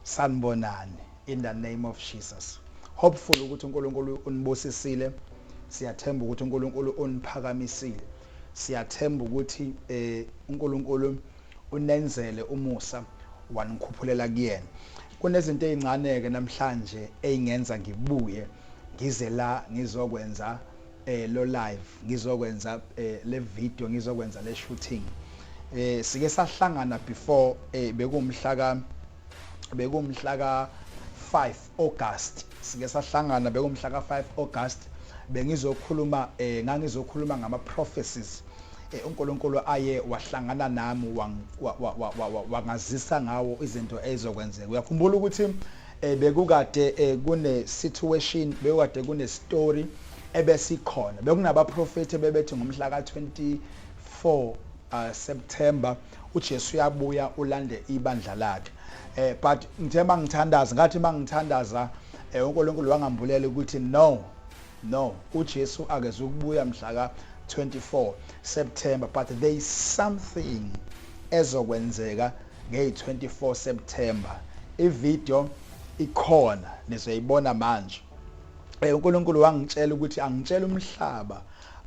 Sanibonani in the name of Jesus hopeful ukuthi uNkulunkulu unibusisile siyathemba ukuthi uNkulunkulu uniphakamisile siyathemba ukuthi eh uNkulunkulu unenzele umusa wanikhuphulela kuyena kunezinto ezincane ke namhlanje eingenza ngibuye ngize la ngizokwenza lo live ngizokwenza le video ngizokwenza le shooting sike sahlangana before bekumhla ka bekumhla ka 5 August sike sahlangana bekumhla ka 5 August bengizokhuluma ngangizokhuluma ngama prophecies Eh, uNkulunkulu aye wahlangana nami wangazisa ngawo izinto ezizokwenzeka uyakhumbula ukuthi Bekukade kune situation, bekukade kune story ebesikhona. Bekunabaprofethi ebebethi ngomhla ka 24 September uJesu uyabuya ulande ibandla lakhe. But ngithe mangithandaza, ngathi mangithandaza uNkulunkulu wangambulela ukuthi no, No uJesu akezukubuya mhlaka 24 September but there is something ezokwenzeka ngey 24 September i video ikhona nizoyibona manje eh, uNkulunkulu wangitshela ukuthi angitshele umhlaba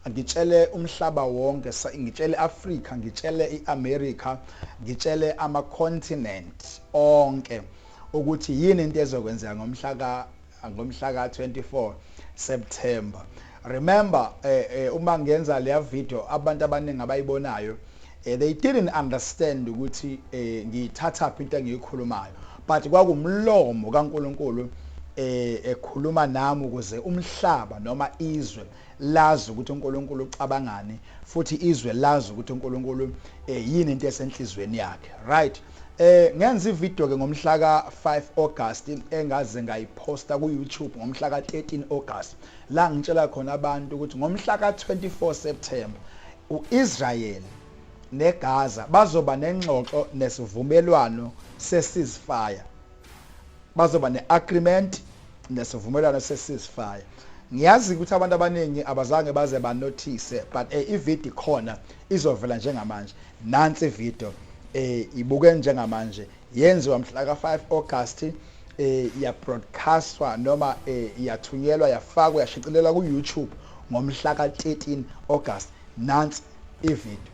ngitshele umhlaba wonke ngitshele Africa ngitshele iAmerica ngitshele ama continent onke ukuthi yini into ezokwenzeka ngomhla ka ngomhla ka 24 September remember uma ngenza leya video abantu abaningi abayibonayo they didn't understand ukuthi ngiyithathaphi into engiyikhulumayo but kwakumlomo kaNkulunkulu ekhuluma nami ukuze umhlaba noma izwe lazi ukuthi uNkulunkulu ucabangani futhi izwe lazi ukuthi uNkulunkulu yini into esenhlizweni yakhe right Eh ngenza ivideo ke ngomhlaka 5 August engaze ngayiphosta ku YouTube ngomhlaka 13 August la ngitshela khona abantu ukuthi ngomhlaka 24 September uIsrael neGaza bazoba nengxoxo nesivumelwano seCeasefire. Bazoba ne-agreement nesivumelwano se-ceasefire. Ngiyazi ukuthi abantu abaningi abazange baze banothise but eh, ivideo ikhona izovela njengamanje. Nansi ivideo eh, ibuke njengamanje yenziwa mhla ka-5 August eh, yabroadcastwa noma eh, yathunyelwa yafakwa yashicilelwa ku-YouTube ngomhla ka-13 August. Nansi ivideo.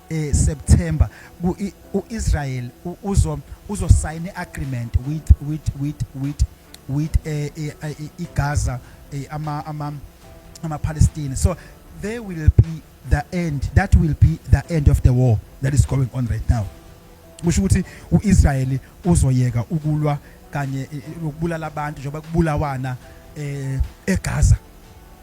eh, September ku i- uIsrael u- uzo uzosayina iagreement with with with with with eh, eh, eh, iGaza eh, ama ama amaPalestine so there will be the end that will be the end of the war that is going on right now kusho ukuthi uIsrael uzoyeka ukulwa kanye eh, ukubulala abantu njengoba kubulawana eh eGaza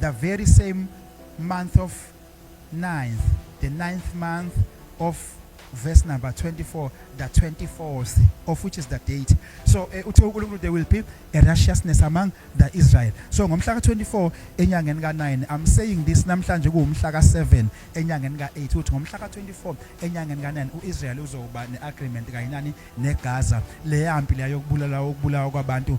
the very same month of ninth, the ninth month of verse number 24, the 24th, of which is the date. So uh, uthi there will be a righteousness among the Israel. So ngomhla ka-24 enyangeni ka-9, I'm saying this namhlanje kuwumhla ka-7 enyangeni ka-8 ukuthi ngomhla ka-24 enyangeni ka-9 u-Israel uzoba ne-agreement kanye nani negaza leyampi leya yokubulala ukubulawa kwabantu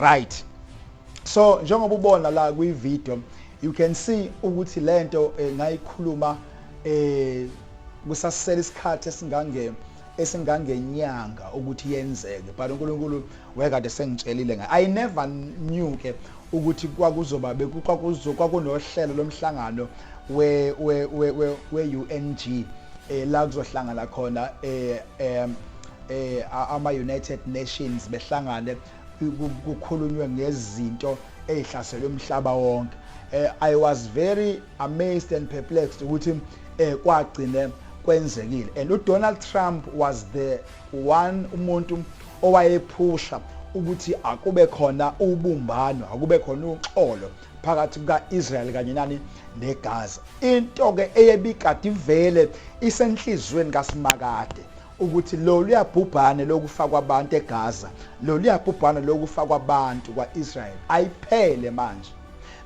right so njengoba ubona la kwi video you can see ukuthi lento eh, ngayikhuluma eh kusasela isikhathi esingange esingangenyanga ukuthi yenzeke but uNkulunkulu wekade sengitshelile ngayo i never knew ke ukuthi kwakuzoba bekwakuzo kwakunohlelo lomhlangano we we we we UNG eh la kuzohlangana khona eh eh, ama-United Nations behlangane kukhulunywe ngezinto ezihlasele umhlaba wonke eh, i was very amazed and perplexed ukuthi eh, kwagcine kwenzekile and udonald trump was the one umuntu owayephusha ukuthi akube khona ubumbano akube khona uxolo phakathi kuka-israyeli kanye nani negaza into-ke eyebikade ivele isenhliziyweni kasimakade ukuthi loluya bhubhane lokufa kwabantu eGaza, loluya bhubhane lokufa kwabantu kwa-Israel ayiphele manje.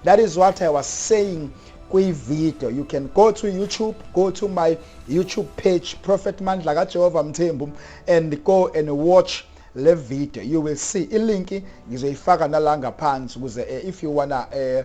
That is what I was saying kwi-video. You can go to YouTube, go to my YouTube page, Prophet Mandla kaJehova Mthembu, and go and watch le video. You will see ilinki ngizoyifaka nala ngaphansi ukuze eh, if you wanna uh,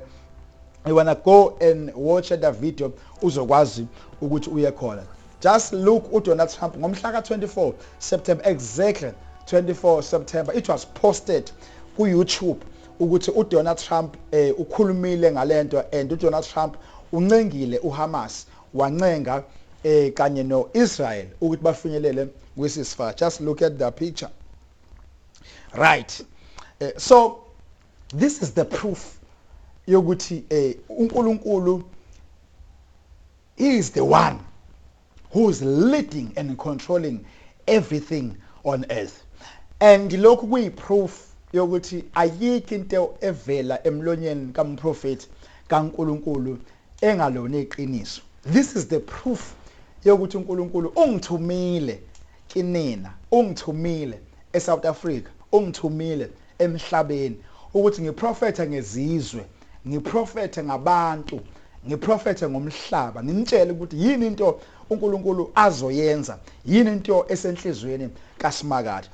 you wanna go and watch the video uzokwazi ukuthi uye khona. Just look u Donald Trump ngomhlaka 24 September exactly 24 September it was posted ku YouTube ukuthi u Donald Trump eh, ukhulumile ngalento and u Donald Trump uncengile u Hamas wancenga eh, kanye no Israel ukuthi bafinyelele kwi ceasefire just look at the picture right eh, so this is the proof yokuthi eh, uNkulunkulu He is the one who is leading and controlling everything on earth and lokhu kuyi proof yokuthi ayikho into evela emlonyeni kamprofethi kaNkulunkulu engalona iqiniso. This is the proof yokuthi uNkulunkulu ungithumile kinina, ungithumile eSouth Africa, ungithumile emhlabeni, ukuthi ngiprofethe ngezizwe, ngiprofethe ngabantu, ngiprofethe ngomhlaba, nginitshele ukuthi yini into uNkulunkulu azoyenza, yini into esenhlizweni kaSimakade.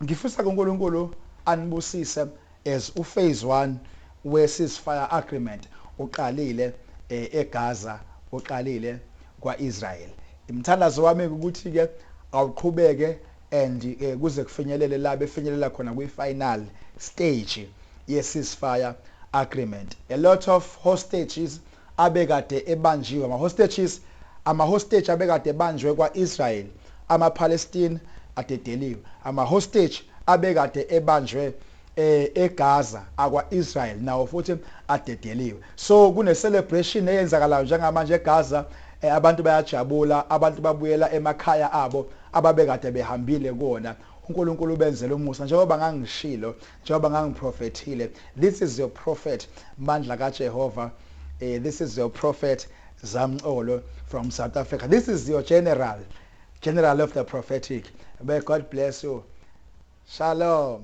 Ngifisa kuNkulunkulu anibusise as uphase one we ceasefire agreement uqalile eh, eGaza uqalile kwa-Israel. Imthandazo wami ukuthi-ke awuqhubeke and ke kuze kufinyelele la befinyelela khona kwi final stage ye ceasefire agreement a lot of hostages abekade ebanjiwe ama hostages ama hostage abekade ebanjwe kwa Israel ama Palestine adedeliwe ama hostage abekade ebanjwe eGaza akwa Israel nawo futhi adedeliwe so kune celebration eyenzakalayo njengamanje eGaza abantu bayajabula abantu babuyela emakhaya abo ababekade behambile kuwona uNkulunkulu ubenzela umusa njengoba ngangishilo njengoba ngangiprofethile this is your prophet Mandla kaJehova eh, this is your prophet Zamcolo from South Africa this is your general general of the prophetic may God bless you Shalom.